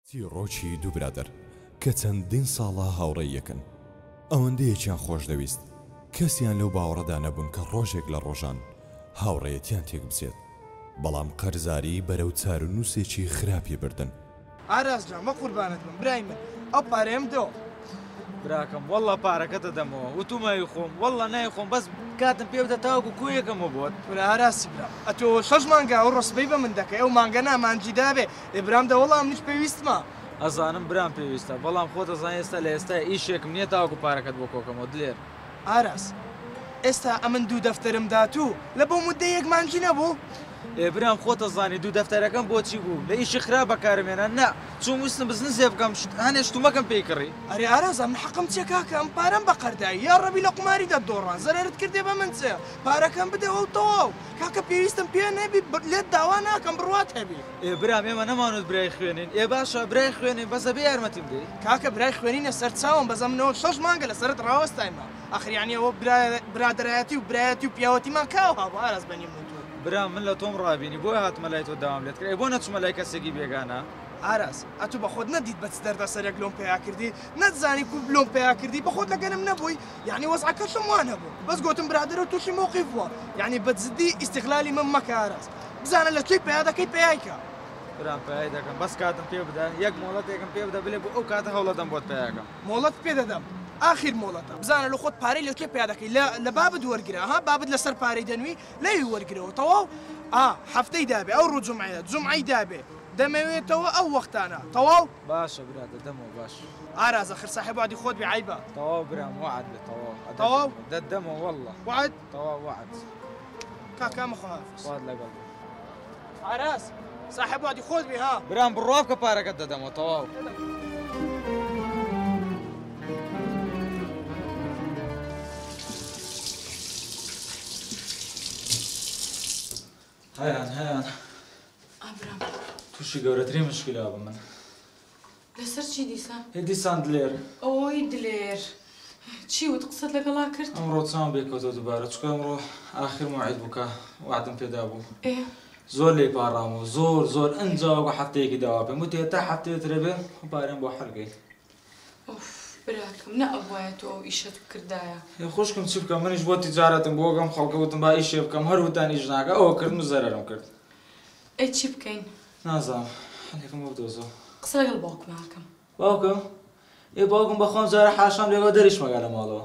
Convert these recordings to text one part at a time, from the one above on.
چیڕۆکی دوو برادەر کە چەندین ساڵە هاوڕێی یەکن، ئەوەندە یەکیان خۆشدەویست، کەسیان لەو باوەڕەدا نەبوون کە ڕۆژێک لە ڕۆژان هاوڕێیەتیان تێکبچێت، بەڵام قەرزاری بەرەو چارونووسێکی خراپی بردن. ئاراس جان بە قوربانت بم برای من ئەو پارەیەم بدەوە. براکەم وەللە پارەکەت دەدەمەوە وتومە ئەیخۆم وەللە نایخۆم بەس کاتم پێ بدە تاوەکو کۆیەکەمەوە بۆت. کورە ئاراسی برام ئەتۆ شەش مانگە ئەو ڕسپەی بە من دەکەی ئەو مانگە نامانجی دابێ ئێ برام دە وەڵا منیش پێویستمە. ئەزانم برام پێویستە بەڵام خۆت ئەزانی ئێستا لە ئێستای ئیشێکم نیە تاوەکو پارەکەت بۆ کۆکەمەوە دلێر. ئاراس ئێستا ئەمن دوو دەفتەرم داتوو لە بۆ موددەی یەک مانگی نەبوو. ئێ برام خۆت ئەزانی دوو دەفتەرەکەم بۆچی بوو لە ئیشی خراپ بەکارم هێنا نا چووم ویستم بزنسێ بکەم شت هەنێ شتومەکەم پێی کڕی. ئەرێ ئاراس ئەمن حەقم چیە کاکە ئەم پارەم بە قەردایی یا ڕەبی لە قوماری دەت دۆڕا زەرەرت کردێ بە من چێ پارەکەم بدەوە و تەواو کاکە پێویستم پێ نەبی لێت داوا ناکەم بڕوات هەبی. ئێ برام ئێمە نەمانوت برای خوێنین. ئێ باشە برای خوێنین بەس ئەبێ یارمەتیم دەی. کاکە برای خوێنینە سەر چاوم بەس ئەمنۆ شەش مانگە لە سەرت ڕاوەستاینما ئاخر یانی ئەوە برادەرایەتی و برایەتی و پیاوەتیمان کاو هابوو ئاراس بەنی من و تۆ. برام من لە تۆم ڕابینی بۆیە هاتمە لای تۆ داوام لێت کرد ئەی بۆ نەچمە لای کەسێکی بێگانە. ئاراس ئەتوو بەخۆت نەدیت بە چ دەردەسەرێک لۆم پەیا کردی نەتزانی کوو لۆم پەیا کردی بەخۆت لەگەنم نەبووی. یەعنی وەزعەکەشم وان هەبوو بەس گۆتم برادەرو توشی مەوقیف بووە یەعنی بە جدی ئیستیغلالی من مەکە ئاراس بزانە لە چی پەیا دەکەی پەیای کە. برام پەیای دەکەم بەس کاتم پێ بدە یەک مۆڵەتێکم پێ بدە بلێ بۆ ئەو کاتە هەوڵەدەم بۆت پەیا کەم. مۆڵەتت پێ دەدەم ئاخیر مۆڵەتە بزانە لە خۆت پارەی لە کوێ پەیا دەکەی لە لە بابت وەرگرە ها بابت لە سەر پارەی دەنوی لەوی وەرگرەوە تەواو ئا هەفتەی دابێ ئەوڕۆ جومعەیە جومعەی دابێ دەمەوێتەوە ئەو وەختانە تەواو باشە برا دەدەمەوە باش. ئارازە خر ساحێب وەعدی خۆت بێ عەیبە. تەواو برام وەعد بێ تەواو. تەواو؟ دەتدەمەوە واللە. وەعد؟ تەواو وەعد. کاکە مەخۆ هەر. خوات لەگەڵ بێ. ئاراز ساحێب وەعدی خۆت بێ ها. برام بڕوا بکە پارەکەت دەدەمەوە تەواو. هەیان هەیان ئابرام تووشی گەورەترین مشکلا بە من لەسەر چی دیسان؟ هێ دیسان دلێر ئەوەی دلێر چی وت قسەت لەگەڵا کرد؟ ئەمڕۆ چاوم بێکەوتەوە دووبارە چکە ئەمڕۆ ئاخر موعید بووکە وعدم پێدا بوو ئێ زۆر لێی پاڕامەوە زۆر زۆر ئەنجا وەکو هەفتەیەکی داوا پێم وتی هەتا هەفتەیە ترە بێ پارەم بۆ حەل بکەیت ئۆف براکەم نە ئەبوایە تۆ ئەو ئیشەت بکردایە. ئێ خوشکم چ بکەم منیش بۆ تیجارەتم بۆ ئەم خەڵکە وتم با ئیشێ بکەم هەر وتان ئیش ناکە ئەوە کردم و زەرەرم کرد. ئەی چی بکەین؟ نازانم حەلێکم بۆ بدۆزە. قسە لەگەڵ باوکما ئەکەم. باوکم؟ ئێ باوکم بەخوا ئەمجارە حاشام لێ ئەگا دەریش مەگا لە ماڵەوە.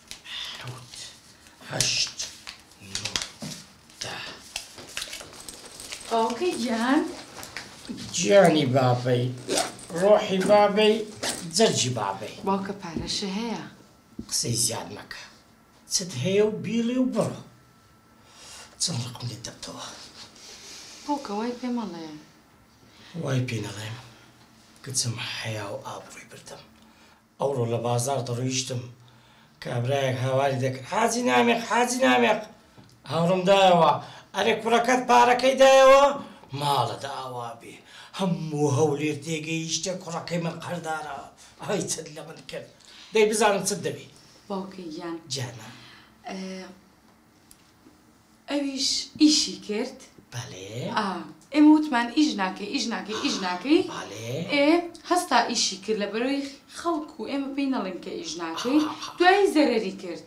حەوت هەشت نۆ دە باوکەی گیان گیانی بابەی ڕۆحی بابەی جەرگی بابەی باوکە پارەشە هەیە قسەی زیاد مەکە چت هەیە و بیڵێ و بڕۆ چەند ڕقم لێت دەبتەوە باوکە وای پێ مەڵێ وای پێ نەڵێم کچم حەیا و ئابڕووی بردم ئەوڕۆ لە بازاڕ دەڕۆیشتم، کابرایەک هاواری دەکرد، حاجی نامیق، حاجی نامیق! هاوڕم دایەوە، ئەرێ کوڕەکەت پارەکەی دایەوە؟ ماڵت ئاوا بێ، هەموو هەولێر تێگەیشتە کوڕەکەی من قەرزدارە، ئای چەند لە من کرد، دەی بزانم چت دەوێ؟ باوکە گیان. جانان. ئەویش ئیشی کرد ئێمە وتمان ئیش ناکەی ئیش ناکەی ئیش ناکەی ئێ هەستا ئیشی کرد لە بەرەوەی خەڵک و ئێمە پێی نەڵێن کە ئیش ناکەی دوایی زەرەری کرد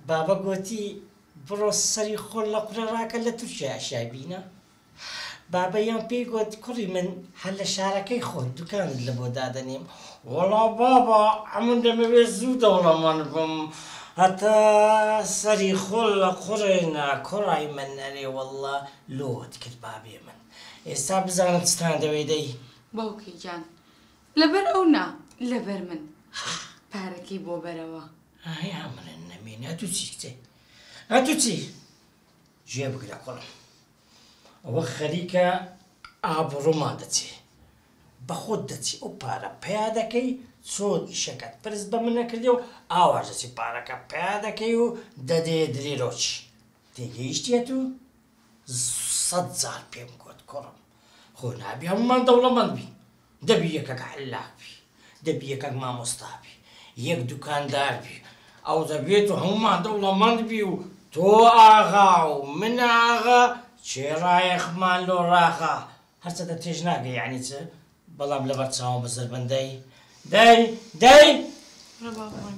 بابە گۆتی بڕۆ سەری خۆل لە قورە ڕاکە لە تورکیا ئەشیای بینە. بابەییان پێی گوت، کوڕی من هەر لە شارەکەی خۆت دوکانت لە بۆ دادەنێم. وەڵا بابە، ئەمن دەمەوێ زوو دەوڵەمەند بم، هەتا سەری خۆل لە قوڕێنا. کوڕای من، ئەرێ وەڵلا، لۆت کرد بابی من. ئێستا بزانە چتان دەوێ دەی. باوکی گیان، لەبەر ئەو نا، لەبەر من. پارەکەی بۆ بەرەوە. ئای ئەمن نەمێنێ، ئەتوو چیت کچێ؟ ئەتوو چی؟ جێ بگرە کوڕم ئەوە خەریکە ئابڕوومان دەچێ بەخۆت دەچی ئەو پارە پیا دەکەی چۆن ئیشەکەت پرس بە من نەکردی و ئاواش دەچی پارەکە پیا دەکەی و دەدێ دلیرۆچ تێگەیشتیەت و سەد جار پێم گوت کوڕم خۆ نابی هەموومان دەوڵەمەند بین دەبی یەکەک عەللاق بی دەبی یەکەک مامۆستا بی یەک دوکاندار بی ئەو دەبێت و هەموومان دەوڵەمەند بی و تۆ ئاغا و من ئاغا چێ ڕایەخمان لۆ ڕاغا هەرچەندە تێش ناگەی یەعنی چ بەڵام لەبەر چاوم بە زەربەندەی دەی دەی ڕەبابوان.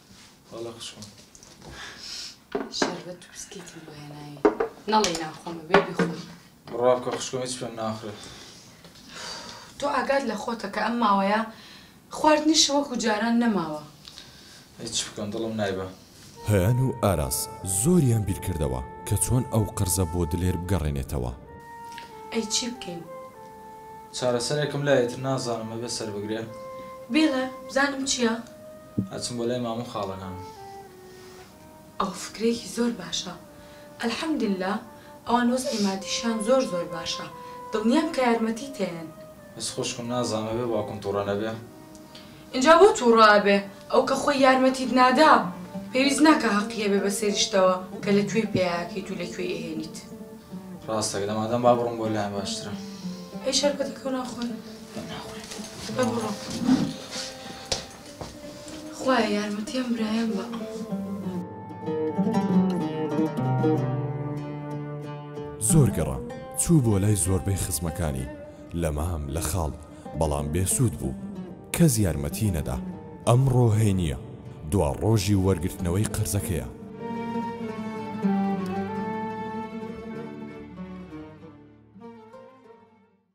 وەڵا خوشکم شەربەت و بسکیتم بۆ هێناوی نەڵێی ناخۆمە بێ بیخۆی بڕوا بکە خوشکم هیچ پێم ناخرێت تۆ ئاگات لە خۆتە کە ئەم ماوەیە خواردنیش وەکو جاران نەماوە هیچ بکەم دڵم نایبە هەیان و ئاراس زۆریان بیرکردەوە کە چۆن ئەو قەرزە بۆ دلێر بگەڕێنێتەوە. ئەی چی بکەین؟ چارەسەرێکم لایەت نازانم ئەبێ سەربگرێ. بێڵێ بزانم چیە؟ ئەچم بۆ لای مامو خاڵە نان. ئەو فکرەیەکی زۆر باشە الحمدللە ئەوان وەزعی مادیشیان زۆر زۆر باشە دڵنیام کە یارمەتیت ئەیەن. بەس خوشکم نازانم ئەبێ باوکم توڕە نەبێ. ئینجا بۆ توڕە ئەبێ ئەو کە خۆی یارمەتیت نادا پێویست ناکا هەقی هەبێ بەسەر یشتەوە کە لە کوێی پەیا ئەکەیت و لە کوێی ئەهێنیت. ڕاستە گلە مادام با بڕۆم بۆ لایان باشترە. ئەی شەربەتەکەو ناخۆین؟ نا ناخۆین. با بڕۆم. خوایە یارمەتی ئەم برایەم بە. زۆر گەڕام چوو بۆ لای زۆربەی خزمەکانی لە مام لە خاڵ بەڵام بێسوود بوو کەس یارمەتی نەدا ئەم ڕۆهەی نییە دوا ڕۆژی وەرگرتنەوەی قەرزەکەیە